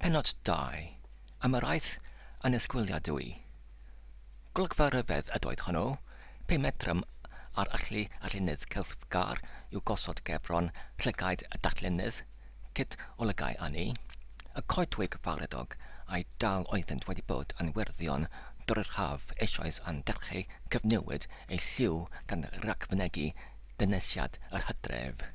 Pennod 2, am yr aeth annisgwyliadwy. Golygfa ryfedd ydoedd hwnnw, pe medrem ar allu allunydd celfgar i'w gosod gefron llygaid y darllenydd, cyd olygai â ni, y coedwig fawreddog, ai dal oeddynt wedi bod yn werddion dorri'r haf eisoes a'n delcheu cyfnewid eu lliw gan ragfynegi dynesiad yr hydref.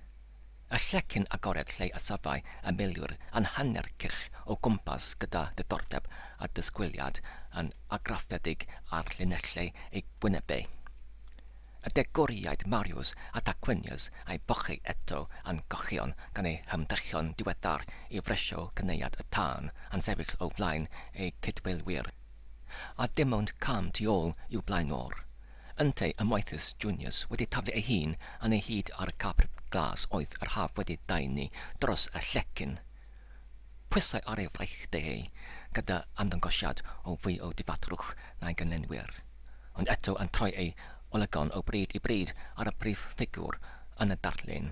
Y llecyn agored lle y safai y milwyr yn hanner cylch o gwmpas gyda diddordeb a disgwyliad yn argraffedig ar llinellau eu gwynebau. Y degwriaid Marius a Tarquinius a'i bochi eto yn cochion gan eu hymdrechion diweddar i fresio cynaead y tân yn sefyll o flaen eu cydweilwyr. A dim ond cam tu ôl i'w blaenor. Yntau y Moethus Juniors wedi taflu ei hun yn ei hyd ar y cap glas oedd yr haf wedi daenu dros y llecyn. Pwysau ar ei fraich deheu gyda ymddangosiad o fwy o ddifatrwch na'i gynllenwyr, ond eto yn troi ei olygon o bryd i bryd ar y brif ffigwr yn y darlun.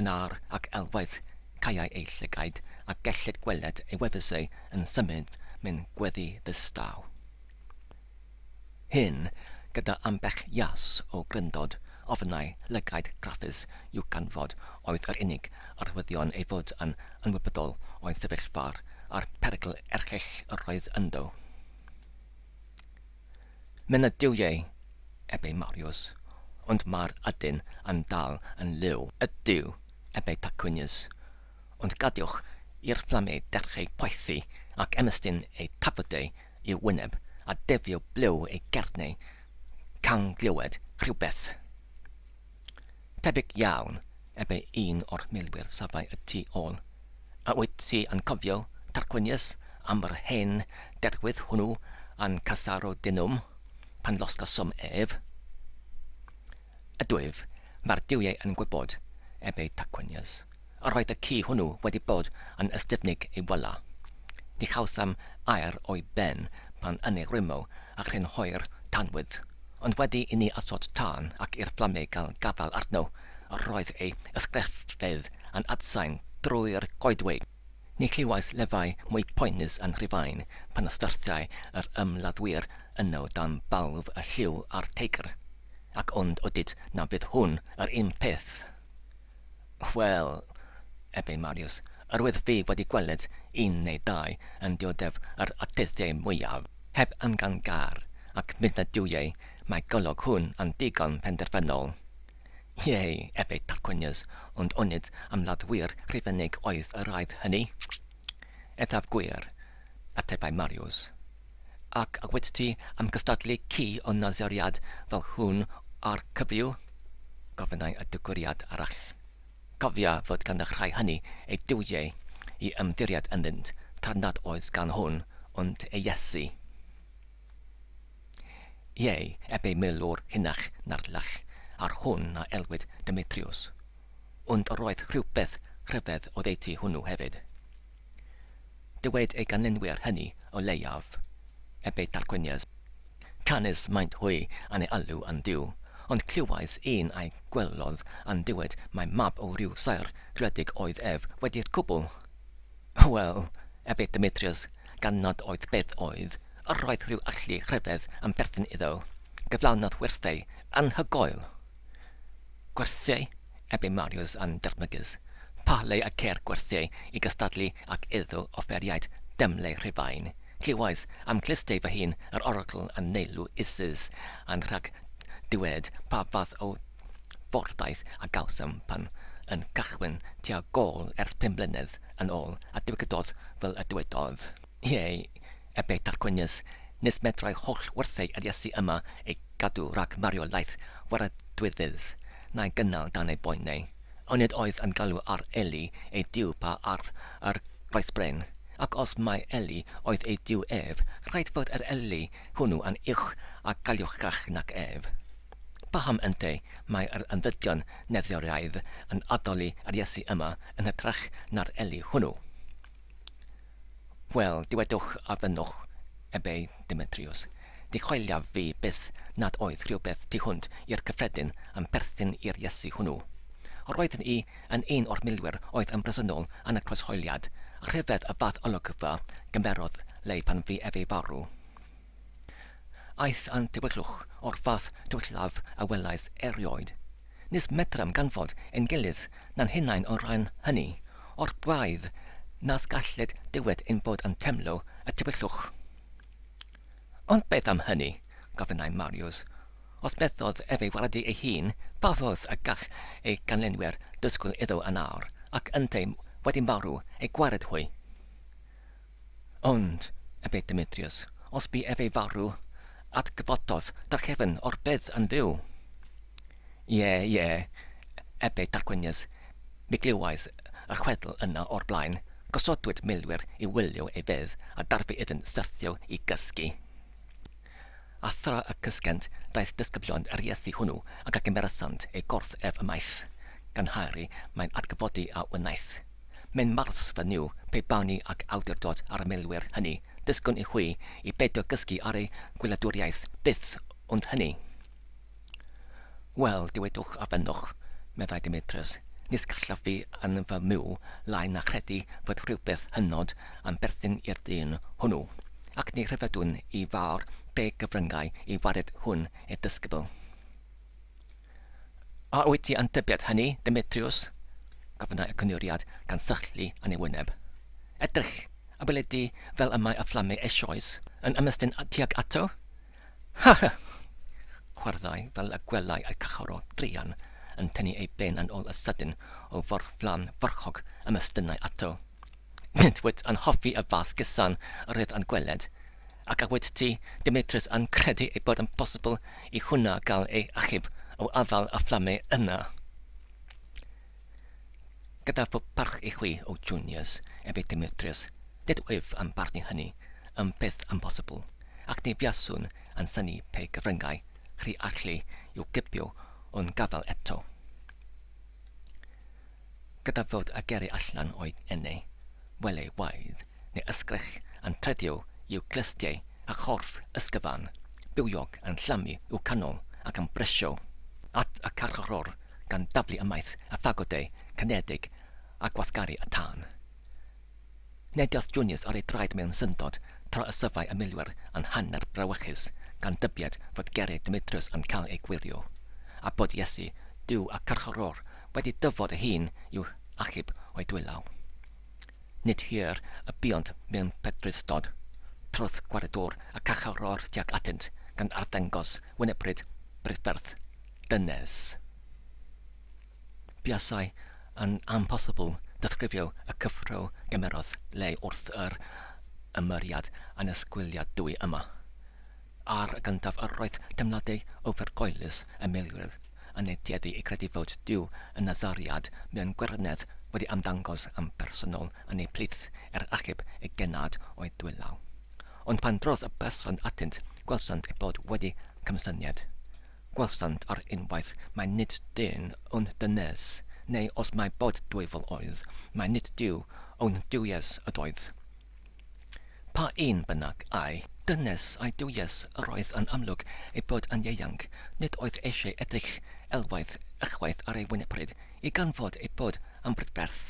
yn ar ac elwaith caeau ei llygaid a gellid gweled ei wefusau yn symud mewn gweddi ddistaw. Hyn, gyda ambell jas o gryndod, ofnai, lygaid graffus i'w ganfod oedd yr unig arwyddion ei fod yn ymwybodol o'i sefyllfa a'r perygl erchyll yr oedd ynddo. Mae'n ydyw ie, ebe Mariws, ond mae'r ydyn yn dal yn liw. Ydyw, ebe Tarquinius, ond gadewch i'r fflamau dechreu poethi ac ymestyn eu tafodau i'w wyneb a defio blew ei gerneu can glywed rhywbeth. Tebyg iawn, ebe un o'r milwyr safai y tu ôl. A wyt ti yn cofio, Tarquinius, am yr hen derwydd hwnnw yn Casarodunum, pan losgawsom ef? Ydwyf, mae'r duwiau yn gwybod, ebe Tarquinius. Yr oedd y ci hwnnw wedi bod yn ystyfnig ei wyla. Ni chawsom air o'i ben pan yn ei rwymo a chrynhoi'r tanwydd, ond wedi i ni osod tân ac i'r fflamau gael gafael arno, yr oedd ei ysgrifeydd yn adsain drwy'r goedwig. Ni chlywais lefau mwy poenus yn Rhufain pan y syrthiai yr ymladdwyr yno dan balf y lliw a'r teigr. Ac ond odid na fydd hwn yr un peth! Wel, efe Mariws, yr oedd fi wedi gweled un neu ddau yn dioddef yr adyddiau mwyaf, heb angan gar, ac mid na duwiau mae golwg hwn yn ddigon penderfynol. Ie, efe Tarquinius, ond onid ymladdwyr Rhufeinig oedd y rhai hynny? Eithaf gwir, atebai Mariws. Ac a wyt ti am gystadlu ci o Naseriad fel hwn â'r cyfryw? gofynnai y digwriad arall. Cofia fod gan y rhai hynny eu duwiau i ymddiried ynddynt, tra nad oes gan hwn ond ei Iesu. Ie, eb ei milwr hynach na'r lach ar hwn a elwid Demetriws. Ond yr oedd rhywbeth rhyfedd oddeutu hwnnw hefyd. Dywed ei ganlynwyr hynny, o leiaf, eb eu tarquinias. Canys maent hwy yn ei alw yn dduw, ond clywais un a'i gwelodd yn dywed mai mab o ryw saer gwledig oedd ef wedi'r cwbl! Wel, ebe Demetriws, gan nad oedd beth oedd, yr oedd rhyw allu rhyfedd yn perthyn iddo, gyflawnodd werthau anhygoel. Gwerthiau? ebe Mariws yn dychmygus. Pa le y ceir gwerthiau i gystadlu ac iddo offeriaid demlau Rhufain? Clywais am glustei fy hun yr oracl yn neilltu Isis yn rhag dywed pa fath o fordaith a gawsom pan yn cychwyn tua gôl ers pum mlynedd yn ôl, a dywedodd fel y dywedodd. Ie, ebe Tarquinius, nes medrai holl wrthei Eliesu yma ei gadw rhag mario laeth waradwyddydd, na'i gynnal dan ei boenau, onid oedd yn galw ar Eli ei Duw pa ar yr oes bren? Ac os mai Eli oedd ei Duw ef, rhaid fod yr Eli hwnnw yn uwch a galluogach nac ef. Paham ynte mai yr ymddygion neddioreaidd yn addoli Eliesu yma yn hytrach na'r Eli hwnnw? Wel, dywedwch a fynnwch, ebe Demetriws, dichoeliaf fi byth nad oedd rhywbeth tu hwnt i'r cyffredin yn perthyn i'r Iesu hwnnw. Roeddwn i yn un o'r milwyr oedd yn bresennol yn y croeshoeliad, a rhyfedd y fath olygfa gymerodd Leigh pan fu efe farw. Aeth â'n tywyllwch o'r fath tywyllaf a welais erioed. Nis medram ganfod ein gilydd na'n hunain o'r ran hynny o'r braidd nas galled dywed ein bod yn temlo y tywyllwch. Ond beth am hynny? gofynnai Mariws. Os methodd ef ei waradu ei hun, pa fodd y gall ei ganlynwyr ddysgwyl iddo yn awr, ac ynteu wedi marw, ei gwared hwy? Ond, ebe Demetrius, os bu ef ei farw, atgyfododd drachefn o'r bedd yn fyw. Ie, ie, ebe Tarquinius, mi glywais y chwedl yna o'r blaen, gosodwyd milwyr i wylio ei fedd a darfu iddynt syrthio i gysgu. A thra y cysgent, daeth disgyblion yr Iesu hwnnw ac a gymeresant ei gorff ef ymaith, gan Harry mae'n adgyfodi a wnaeth. Mae'n mars fy Nuw, pe bawn ni ag awdurdod ar y milwyr hynny, disgwn i hwy i beidio gysgu ar eu gwyladwriaeth, byth ond hynny. Wel, dywedwch a fynnwch, meddai Demetrius, nis gallaf fi yn fy myw lai na chredu fod rhywbeth hynod yn berthyn i'r dyn hwnnw, ac ni rhyfeddwn i fawr be gyfryngau i wared hwn i'r disgybl. A wyt ti yn tybied hynny, Demetrius? gofynnai y cynuriad gan sychlu yn ei wyneb. Edrych, a wele di fel y mae y fflamau eisoes yn ymestyn tuag ato? Ha! ha! chwaraeai fel y gwelai y cachorro druan yn tynnu ei ben yn ôl y sydyn o fwrdd flan farchog a mestynnai ato. Nid wyt yn hoffi y fath gesan rhydd yn gweled? Ac a wyt ti, Demetrius, yn credu ei bod yn bosibl i hwnna gael ei achub o afael y fflamau yna? Gyda fy mharch i chwi, O Junias, ef i Demetrius, nid wyf am barnu hynny, yn beth amhosibl, ac ni fuaswn yn synnu pe gyfryngai chri allu i'w gipio o'n gafael eto, gyda fod y geri allan o'i enau, welewaidd neu ysgrech yn tredio i'w glustiau a chorff ysgyfa'n bywiog yn llamu i'w canol ac yn bresio at y carcharor gan daflu ymaith y ffagodau cynefig a gwasgaru y tân. Negiodd Junius ar ei draed mewn syndod tra y sylfai y milwyr yn hanner brawychus gan dybied fod geriau Demetrius yn cael eu gwirio, a bod Iesu, Duw y carcharor wedi dyfod ei hun i'w hachub o'i dwylaw. Nid hir y buont mewn pedrusdod trwth gwaredwr y carcharor tuag atynt, gan arddangos wynebryd brydferth dynes. Buasai yn amhosibl disgrifio y cyffro gymerodd Leigh wrth yr ymyriad annisgwyliadwy yma. Ar y gyntaf yr oedd teimladau ofergoelus y milwyr yn eu tueddu i gredu fod Duw y Nasariad mewn gwirionedd wedi ymddangos yn bersonol yn eu plith er achub eu genad o'u dwylaw. Ond pan drodd y person atynt, gwelsant ei bod wedi cymsynied. Gwelsant ar unwaith mai nid dyn yw'n dynes, neu os mai bod dwyfol oedd, mai nid Duw yw'n duwies ydoedd. Pa un bynnag a'i dynes a'i duwies yr oedd yn amlwg ei bod yn ieuanc, nid oedd eisiau edrych elwaith ychwaith ar ei wynepryd i ganfod ei bod yn brydferth.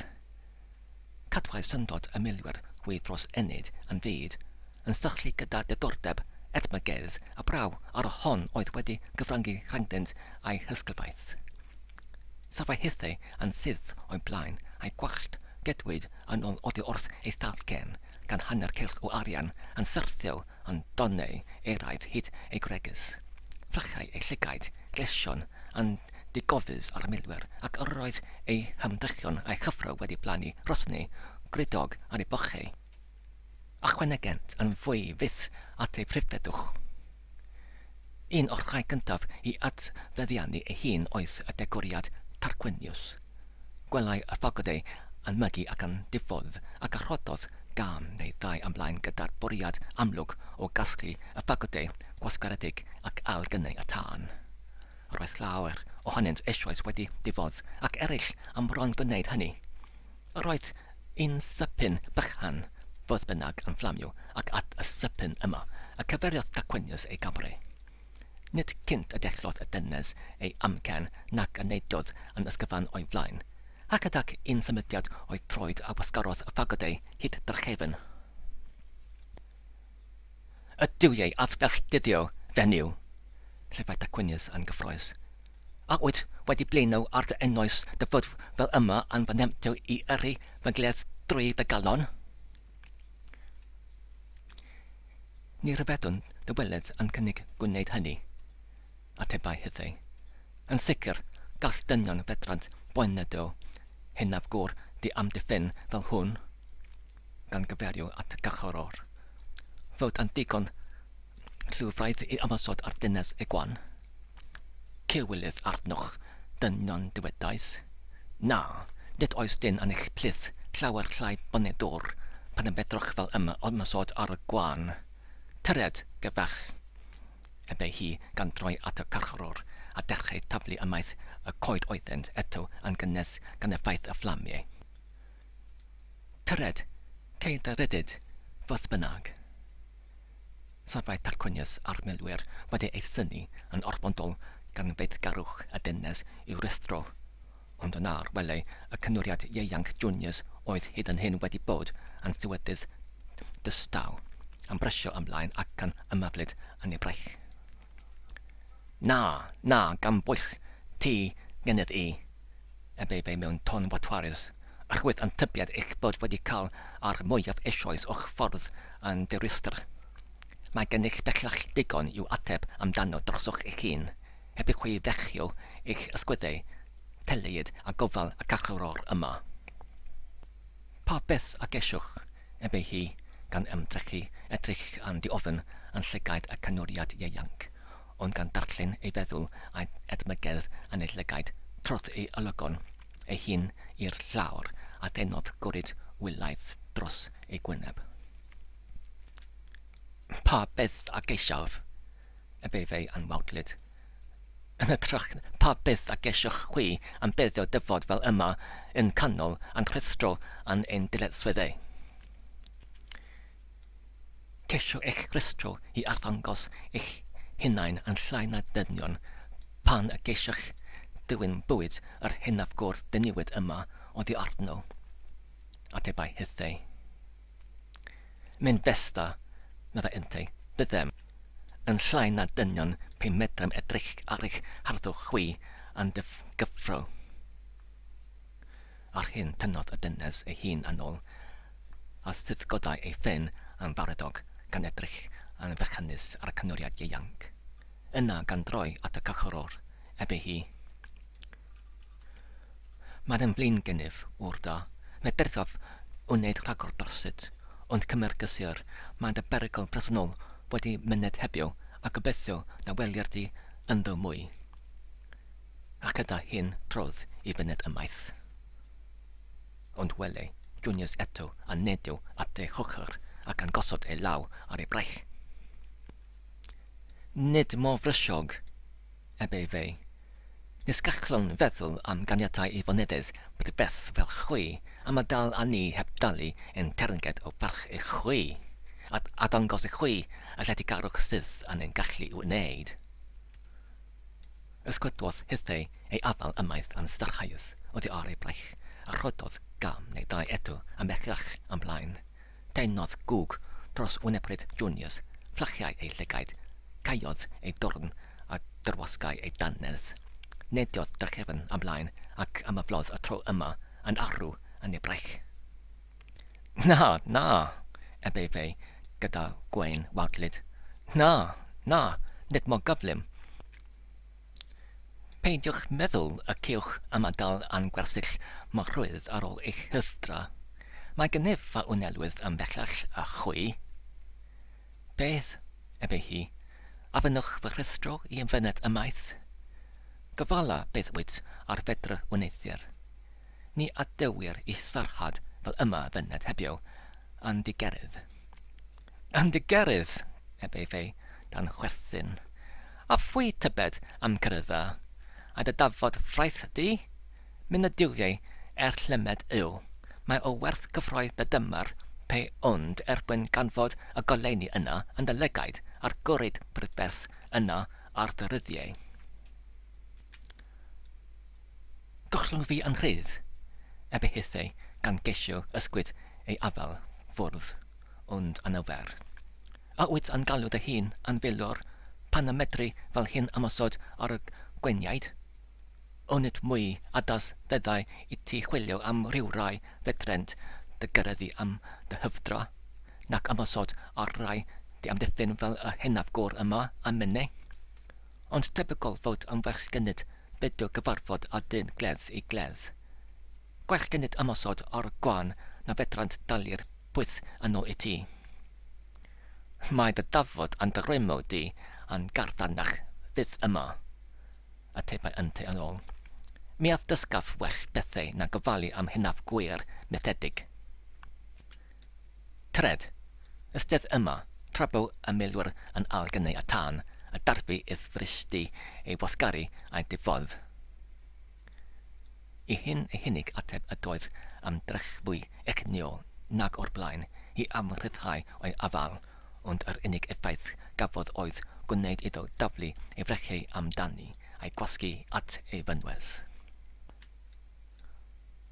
Cadwai syndod y milwyr hwy dros ennyd yn fyd, yn sychlu gyda diddordeb edmygedd a braw ar y hon oedd wedi cyfrangu rhyngddynt a'i hysglyfaeth. Safai hithau yn syth o'i blaen, a'i gwallt gedwid yn ôl oddi wrth ei thalcen, gan hanner cylch o arian yn syrthio yn donnau eraidd hyd ei gwregys. Fflachai ei llygaid gleision yn ddigofus ar y milwyr, ac yr oedd ei hymdrechion a'i chyffro wedi plannu rhosni gwridog ar ei bochau. Ychwanegent yn fwy fyth at ei phrifeddwch. Un o'r rhai cyntaf i adfeddiannu ei hun oedd y degwriad Tarquinius. Gwelai y ffocod ei anmygu ac yn diffodd, ac a rhoddodd gân neu ddau ymlaen gyda'r bwriad amlwg o gasglu y ffagodau gwasgaredig ac ail gynnau y tân. Roedd llawer ohonynt eisoes wedi diffodd, ac eraill am fron gwneud hynny. Roedd yn sypyn bychan, fodd bynnag, yn fflamio, ac at y sypyn yma y cyfeiriodd Tarquinius ei Gymru. Nid cynt y dellodd y dynes ei amcan nac y neidiodd yn ysgyfan o'i flaen, ac ydag un symudiad o'i throed a wasgarodd y fagod ei hyd drachefn. Y duwiau a felltithio fenyw! llefaid Tarquinius yn gyffrous. A wyt wedi blino ar dy ennoes dy fod fel yma yn fy nemptio i yrru fy nghledd drwy dy galon? Ni ryfeddwn dy weled yn cynnig gwneud hynny, atebai Hyddei. Yn sicr, gall dynion fedrant boen na do, hunaf gwr di-amddiffyn fel hwn. gan gyfeirio at Gachoror, fod yn ddigon rhywbraidd i ymosod ar ddynes Egwan. Cywilydd arnoch, dynion dywedais. Na, nid oes dyn yn eich plith llawer llai bonyddwr pan y medroch fel yma ymosod ar y gwan. Tyred, gyfeich! ebe hi gan droi at y Gachoror a dechreu taflu ymaith y coed oeddynt eto yn gynnes gan effaith y fflamiau. Tyred, ceid a rhyddid, fodd bynnag. Safai Tarquinius a'r milwyr wedi ei synnu yn orfodol gan feiddgarwch a dynnes i'w ruthro, ond yna ar welai y cynwriad ieuanc Junius oedd hyd yn hyn wedi bod yn sewyddydd dystaw, yn brysio ymlaen ac yn ymaflyd yn ei braich. Na, na, gan bwyll ti gennyf i! y bebe mewn ton fodfares, oherwydd ein tybied eich bod wedi cael yr mwyaf eisoes o'ch ffordd yn ddirwystr. Mae gennych bellach ddigon i'w ateb amdano drosoch eich hun, heb i chi fechio eich ysgwyddau, telied a gofal y carcharor yma. Pa beth a geisiwch? ebe hi, gan ymdrechu, edrych yn ddiofn yn llygaid y canwriad ieuanc, ond gan ddarllen ei feddwl a'i edmygedd a nid lygaid trodd ei olygon ei hun i'r llawr a thenodd gwrid wylaidd dros ei gwyneb. Pa beth a geisiaf? efe fe'i anwawdlyd. Yn hytrach, pa beth a geisiwch chwi am beddio dyfod fel yma yn canol a'n rhwystro a'n ein dyletswyddau? Ceisio eich rhestro i arddangos eich hunain yn llai na dynion pan y geisiwch ddewin bwyd yr hynaf go'r dyniwyd yma oddi arno. Atebai Hythei. Mae'n festa, meddai yntau, byddem yn llai na dynion pe medrem edrych ar eich harddwch chwi yn gyffro. Ar hyn tynnodd y dynes ei hun yn ôl, a sudgodai ei phen yn fareddog gan edrych yn fechanus ar y cynwriad ieuanc. Yna gan droi at y cychwrwr, ebe hi, Mae yn flin gennyf, ŵr da. Medrithaf wneud rhagor dorsyt, ond cymer gysur, mae dy berygl bresennol wedi myned heddiw, a gobeithio na welir di ynddo mwy. Ac yda hyn trodd i fyned ymaith. Ond wele Junius eto a nedio at ei hochr ac yn gosod ei law ar ei braich. Nid mor frysiog, eb ei fei. Nes gallwn feddwl am ganiatau i fonedes brydferth fel chwi, a ma dal a ni heb dalu ein teyrnged o farch i chwi, a a dangos i chwi y lletygarwch sydd yn ein gallu i'w wneud. Ysgwyddodd hithau ei afael ymaith yn sarhaus oddi ar ei braich, a rhoddodd gam neu ddau eto ymhellach ymlaen. Teimlodd gwg dros wynebryd Junius, fflachiai ei llygaid, caeodd ei dorn a dirwasgai ei dannedd. Neidiodd drachefn ymlaen ac ymaflodd y tro yma yn arw yn ei braich. Na, na! ebe fe gyda gwên wawdlyd. Na, na, nid mor gyflym. Peidiwch meddwl y cewch ymadael â'n gwersyll mor rwydd ar ôl eich huwdra. Mae gennyf fy wnelwydd yn bellach a chwi. Beth? ebe hi. A fynnwch fy rhestro i fyned ymaith? Gofala beth wyt ar fedr wneuthur. ni adewir i sarhad fel yma fyned hebio yn dy gerydd. Yn dy gerydd! eb ei fei dan chwerthin. A phwy tybed am gerydda, a dy dafod fraith di? Myn y duwiau er llymed yw, mae o werth cyffroi dy dymar pe ond er mwyn ganfod y goleuni yna yn dy lygaid a'r gwrid brydferth yna ar dy ryddiau. Gollwng fi yn rhydd! ebe hithau gan geisio ysgwyd ei afael ffwrdd, ond anawfer. A wyt yn galw dy hun yn filwr pan y medri fel hyn ymosod ar y gweiniaid? Onid mwy addas feddai i ti chwilio am rywrai fedrent dy gyrraeddu am dy hyfdra, nac ymosod ar rai diamddiffyn fel y hynafgwr yma, a minnau? Ond tebygol fod am werchgynnydd bedw gyfarfod â dyn glef i glef. Gwerchgynnydd ymosod ar gwan na fedrant dalu'r pwyth yn ôl i ti. Mae dy dafod a'n dy rwymo di a'n gardanach fyth yma, atebai yntau yn ôl. Mi a ddysgaf well bethau na gofalu am hunaf gwŷr methedig. Tred, ystedd yma, tra bu y milwyr yn ail gynnau a tân a darfu idd fryshdy ei wasgaru a'i diffodd. Y hyn ei hunig ateb ydoedd am drech fwy egnïol nag o'r blaen i amrhyddhau o'i afael, ond yr unig effaith gafodd oedd gwneyd iddo daflu ei frecheu am dani, a'i gwasgu at ei fynwes.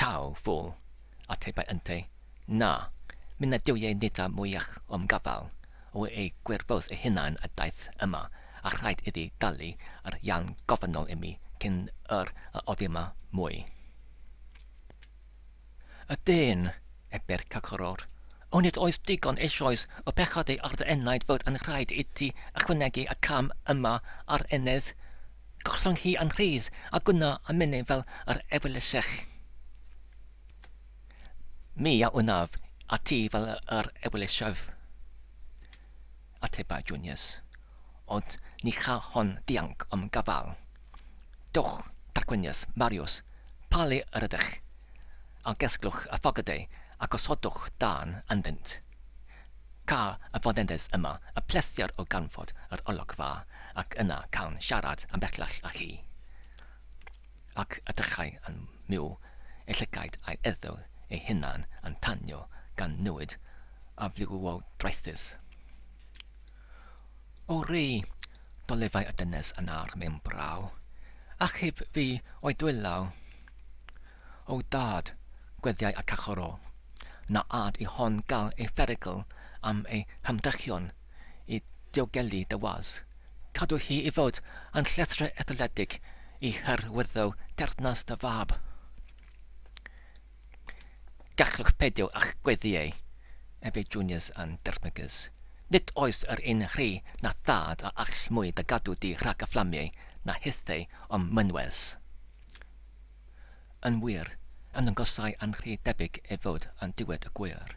Taw, fool, atebai yntau, na, mi nad yw ei nid â mwyach o'm gafael, o ei gwirfodd ei hunan a daeth yma, a rhaid iddi dalu yr iân gofynnol i mi cyn yr a oddi yma mwy. Y dyn! A Bercacoror, onid oes digon eisoes o bechod ei ar dy enaid fod yn rhaid i ti ychwanegu y cam yma ar enedd? Gollwng hi yn rhydd, a gwna a minnau fel yr ewyllysech. Mi a wnaf a ti fel yr ewyllysef. Ateba Junius, Ond ni cha hon ddianc o'm gafael. Dowch, tarquinius, Marius, pa le yr ydych? Algesglwch y ffogeddau a gosodwch dân ynddynt. Cael y foneddes yma, y pleser o ganfod yr olygfa ac yna cawn siarad am bellach â chi. Ac edrychai yn myw ei llygaid a'i eddyw ei hunan yn tanio gan newid aflywiodraethus. O rei, Dolefai y dynes yn awr mewn braw, ac heb fi o'i dwyll law. O dâd, gweddiai y cachorro, na âd i hon gael ei pherygl am ei hymdrechion i diogelu dy was. Cadw hi i fod yn llethrau etholedig i hyrwyddo teyrnas dy fab. Gallwch beidio â'ch gweddïau, ef yw Juniors and Dermagers. Nid oes yr un rhy na thad a all mwy da gadw di rhag y fflamiau na hithau o'm mynwes. Yn wir, ymddangosai yn rhy debyg ei fod yn diwed y gŵyr.